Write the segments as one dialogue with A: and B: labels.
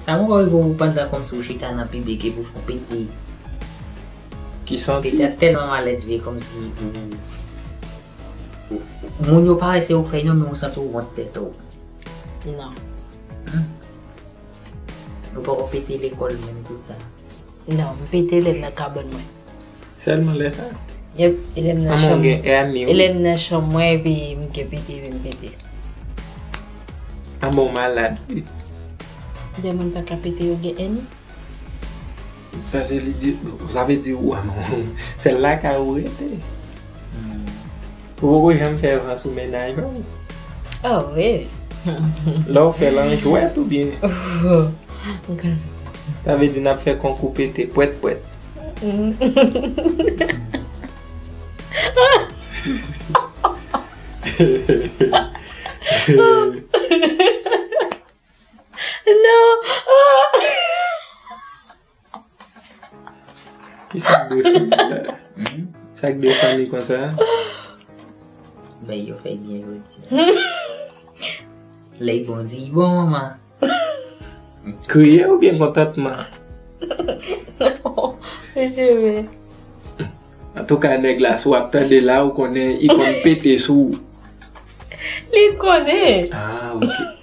A: Sa poko rive w pandan kòmsi w chita nan piblik epi w fon pete.
B: Ki santi? Pete a tèlman maledve
A: kòmsi ou moun yo pa wè se ou k fè non men ou santi w wont tèt ou.
C: Non.
A: Ou poko pete lekòl menm pou sa. Non, m fete
C: lè m nan kabòn mwen. Sèlman lè
B: sa? Yep, e lè m nan
C: chanm mwen. Amon gen ane
B: wi. E
C: lè m nan
B: chanm mwen epi
C: m gen pete epi m pete.
B: Amon malad wi.
C: Lè moun pa ka pete yo gen ane?
B: Pase li di, sa vle di ou amon. Sèl lakay ou rete. Ou poko janm fè van sou mennaj ou? Oh
C: wi. Lè ou
B: fèl an jwèt oubyen?
C: Sa
B: vle di nap fè konkou pete pwèt pwèt.
C: Non.
B: Ki sa k defan li? Sa k defan li konsa?
A: Bay yo fèy byen jodi a. Lèy bon di yi bon manman.
B: Kriye ou byen kontantman?
C: Mwen jere.
B: An tou ka nèg la sou ap tande la ou konnen yi konn pete sou.
C: Li konnen. Ah ok.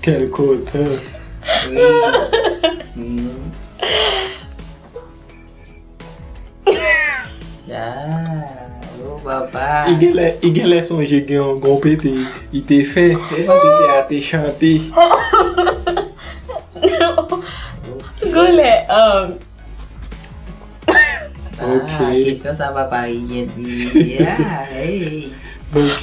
B: Quel cote.
A: I genlè, i genlè
B: sonje gen yon gon pete i te fè. Se pa se te a te chante.
C: Genlè, um. Ok.
A: Ah, kesyon sa pa pa i gen di. Yeah, hey. Ok.